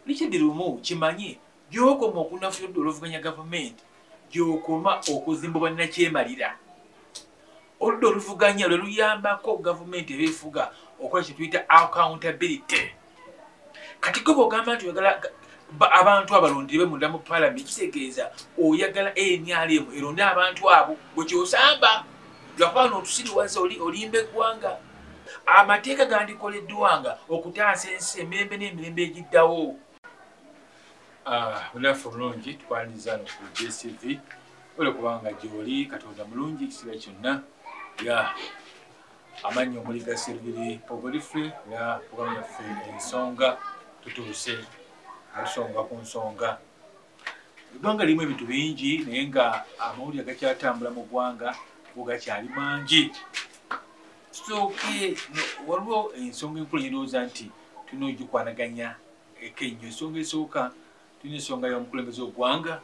Richard Lumu kimanye gyokoma okunafuya odda oluvuganya gavumenti gyokoma okuzimba bannakyemalira oludda oluvuganya lwe luyambako gavumenti ebefuga okola kyetuyita accountability kati goba ogamba nti oyagala abantu abalondirwe munda mu palament kitegeeza oyagala nrm eronde abantu abo gwekyosamba lwakuba notusiriwaza olimba eggwanga amateeka gandikoleddwanga okutaasa ensi emirembe n'emirembe egiddawo bunafu ah, bulungi twaniriza no ku jcv ola kubanga gyoli katonda mulungi ekisiba kyonna ya amannyi omuli gaserviri pogolifre ya kubamu yaffe ensonga tutuuse ensonga ku nsonga eggwanga lirimu ebintu bingi naye nga amawulire gakyatambula mu ggwanga go gakyali mangi tusooke waliwo ensonga enkulu yendowooza nti tulina ogikwanaganya eko ennyo ensonga esooka tulina ensonga y'omukulembeze ogwanga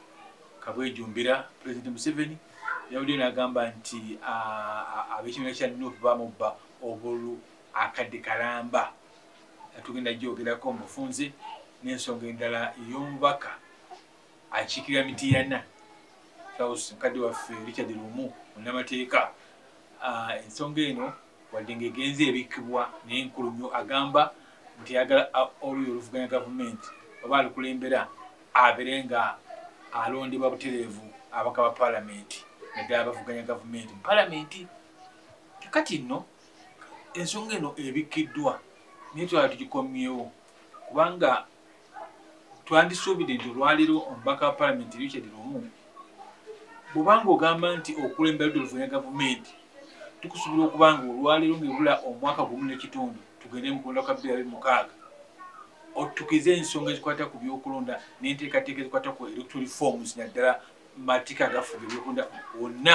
kabwejumbira pulezidenti museveni yabaddeyo n'agamba nti ab'ekibiina kya nup bamubba obulu akadde kalamba tugenda gyogerako mu bufunze n'ensonga endala ey'omubaka akiikirira mitiyana south mukadde waffe richard lumu munnamateeka ah, ensonga eno wadde ngaegenza ebikkibwa naye nkulu nnyo agamba nti ayagala ah, oluyo oluvuganya gavumenti oba alukulembera abere nga alondebwa butereevu abaka ba palamenti naddala abavuganya gavumenti mu palamenti kati nno ensonga eno ebikkiddwa naye twala tugikomyewo kubanga twandisuubidde nti olwaliro omubaka wa palamenti richard lumu bwobanga ogamba nti okulembera dde oluvanya gavumenti tukusuubira okuba nga olwaliro ngaebula omwaka gumu nekitundu tugende mukulonda kwa birabe mukaaga otukize ensonga ezikwata ku byokulonda nenteekateeka ezikwata ku electoral forms naddala mateeka agafuga ebyokulonda wonna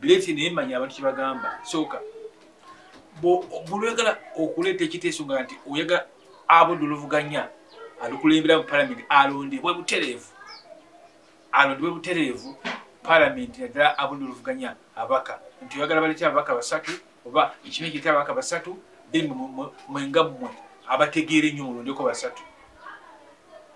Bileti naye manya abantu kye bagamba sooka bulwegala okuleeta ekiteeso nga nti oyagala abudde oluvuganya alukulembera mu palamenti alondebwe butereevu alondebwe butereevu palamenti naddala abudde oluvuganya abaka nti oyagala balete ababaka basatu oba ekimu ekireta ababaka basatu then mwenga mmwe abategeera ennyo mulondeko basatu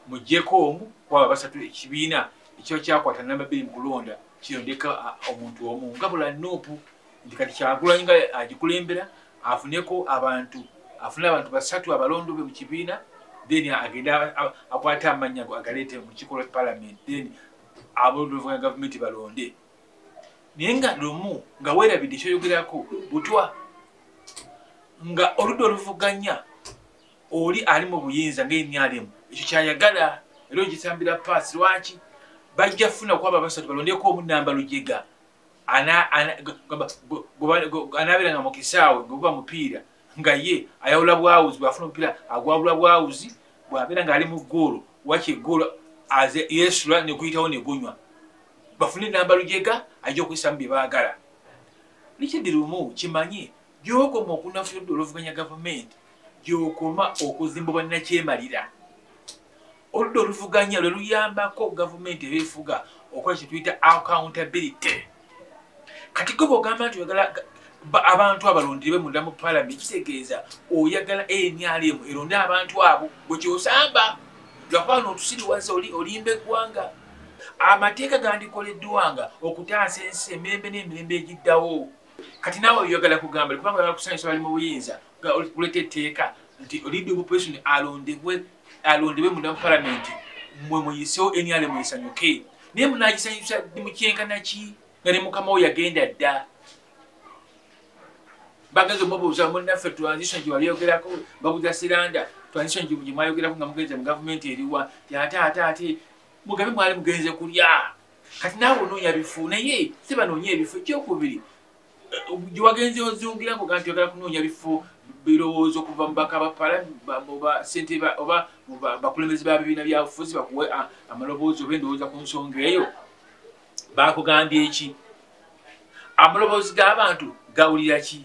mujjeko omu kwaba basatu ekibiina ekiba kyakwata namba bbiri mu kulonda kino ndeka omuntu omu ngabula nuupu nti kati kyagulanyi nga agikulembera afuneko abantu afune abantu basatu abalondo be mu kibiina then agende akwate amannya go agaleete mu kikola palamenti then aboluvugana gavumenti balonde naye nga lumu nga weerabidde kyoyogerako butwa nga oludda oluvuganya oli ali mu buyinza ngaemyalimu ekyo kyayagala era ogisambira paasi lwaki bajja funa kwaba basatu balondeko omunamba lujega anabeera nga mukisaawe gwebuba mupiira nga ye ayawula bwawuzi bwafuna omupiira agwawula bwawuzi bwabeera nga ali mu goolo waki egoolo aze yesula nekuyitawo negunywa bafune enamba lujega ajja okuyisamu byebaagala likidi lumu kimanye gyokoma okunafuyodde oluvuganya gavumenti gyokoma okuzimba bannakyemalira oludda oluvuganya lwe luyambako gavumenti ebefuga okola kyetuyita accountability kati gwe bwogamba nti oyagala abantu abalondirwe munda mu palamenti kitegeeza oyagala nrm eronde abantu abo gwekyosamba lwakuba notusiriwaza olimba eggwanga amateeka gandikoleddwanga okutaasa ensi emirembe n'emirembe egiddawo kati nawe oyagala kugamba kubanga oyagala kusanyusa bali mu buyinza kuleta etteeka nti olidde obupresion alondebwe alondebwe munda mu palamenti mwe muyisewo enyale muyisanyuke naye munagisanyusa mukyenkanaki nga ne mukama wo yagenda dda bagenze omubuuza munaffe transition gye walyogerako babuza siranda transition gye mwayogerako nga mugenze mu gavumenti eriwa ti ate ate ate mugabe mwali mugenze kulya kati naawe onoonya bifu naye si banoonya ebifu ekyokubiri gyewagenze ozungira ngo ganti ogala kunoonya bifo birowoozo okuva mubaka bapalamusentebe oba bakulembezi ba bibiina byabufuzi bakuwe amaloboozi oba endowooza ku nsonga eyo bakugambye eki amaloboozi g'abantu gawulira ki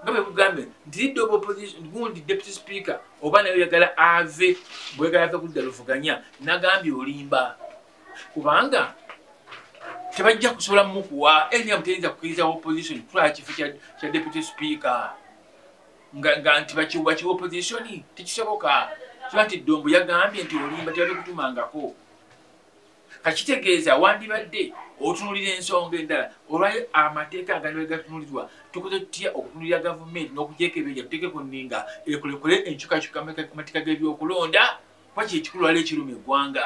nga bwekugambye nti lidde obaoppositiogundi deputy speaker oba naye oyagala ave bwegala ave kudda luvuganya nagambye olimba kubanga tebajja kusobola mukuwa nm teyinza kukiriza opposition kutwala kifo kya deputy speaker nga nti bakiwa ki opposition tekisoboka kiba nti dombo yagambye nti olimba tebabikutumangako kakitegeeza wandibadde otunulira ensonga endala olwali amateeka agalibali gatunulirwa tukoze tutya okutunulira gavumenti n'okujekebeja tutekeko ninga ekulekule enkyukakyuka amateeka g'ebyokulonda kuba kyekikulu wali ekiruma eggwanga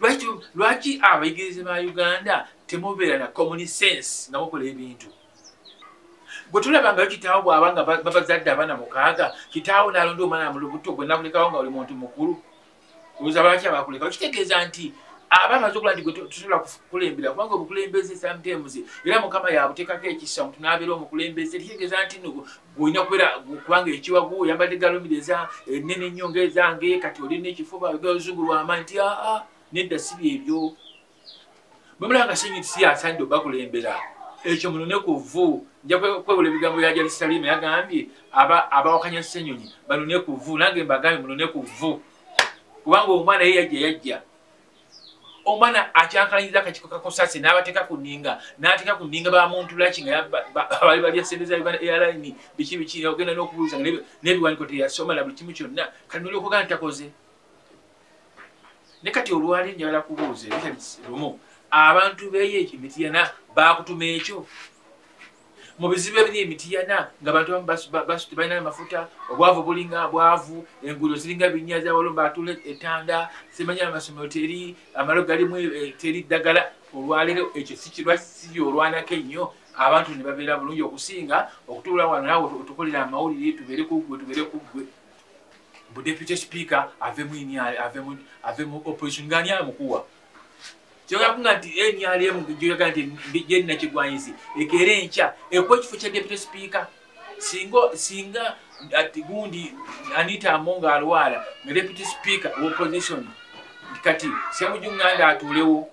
lwaki lwaki abayigirize ba uganda temubeera na common sense nga mukola ebintu gwe tulaba ngayo kitaawo bwaba nga babazadde abaana mukaaga kitaawo nalonda omwana mulubuto gwe nakulekawo nga oli muntu mukulu oza lwaki abakulekawo kitegeeza nti aba amaze okula nti gwe tusobola kukulembera kubanga obukulembeze sometimes era mukama yabutekako ekisa omuntu nabeera omukulembeze kitegeeza nti olina kubeera kubanga ekiwagu oyambadde galumire eza enene eh, ennyo ngaezange kati olina ekifuba oga oluzungu lwamaanyi nti aa ah, ah, nedda si byebyo bwemulanga senyi nti siyasanide obakulembera ekyo munone ku vvu nja kwewula ebigambo bya jarisalimu yagambye abawakanya senyonyi banone ku vvu nange mbagambye munone ku vvu kubanga omwana ye yajja yajja omwana akyankalanyiza akakiko kakosasi n'abateeka ku nninga n'ateeka ku nninga bamuntu laki nga bali balya sente za uganda airline biki biki ogenda n'okubuuza nga n'ebiwaniko teyasoma na buli kimu kyonna kati noli okugaa ntakoze ne kati olwali njagala kubuuza ebikyali lumu abantu beyo ekyo mitiyana baakutuma ekyo mu bizibu ebiri emitiyana nga bantu basuti balina amafuta obwavu bulinga bwavu enguudo ziringa binya zabalomba atula etanda simanya amasomero teri amalo galimu eh, teri ddagala olwaleero ekyo sikirwa siri olwanako ennyo abantu ne babeera bulungi okusinga okutuula wano nawe otukolera amawulire tubeere kuggwe tubeere kuggwe bu deputy speaker ave mu opposition ngani amukuwa kyogakunga nti nrm gyoga nti gyenakigwanyizi ekeera enkya ekuwa ekifo kya deputy speaker singa singa ati gundi anita amonga alwala nga deputy speaker opposition kati semujunganda atuulewo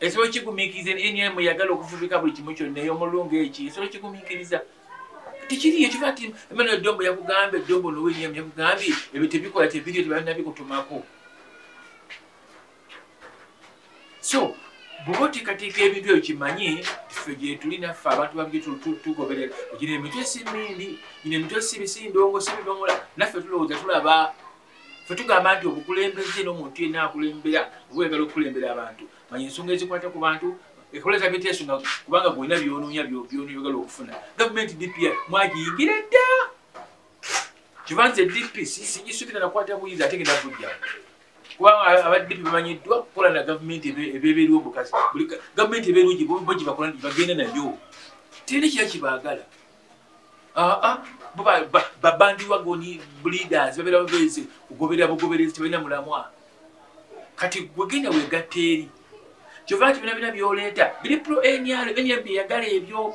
esobola kigumikiriza nrm yagala okufubika buli kimu kyonna eyomulungu eki esobola kigumikiriza tekiriyo kiva ti emmanuel dombo yakugambye dombo nowenyam yakugambye ebyo tebikola tebiriyo tebalina bikutumako so bwoba oteekateeka ebintu ebyo kimanye ffe gyetuli naffe abantu babitugoberera gina emitwe si mindi gina emitwe si bisindongo si bidomola naffe tulowooza tulaba fe tugamba nti obukulembeze n'omuntu yenna akulembera oba oyagala okukulembera abantu manya ensonga ezikwata ku bantu ekoleza biteeso nga kubanga gwolina byonoonya byonooyagala okufuna gavumenti dpa mwagiyingira dda kibanze dp sigisubira nakwata buyinza ate genda kujjawo kubanga abadde bemanyiddwa kukola na gavumenti ebeberiwo obukazi gavumenti eberugi bogibakola bagenda nayo teri kira kibagala babandiwagoni bleaders babera babeezi kugoberera bugoberezi tebalina mulamwa kati gwegenda wegatta eri kyova nti bina bina byoleeta biri pro nr nrb eyagala ebyo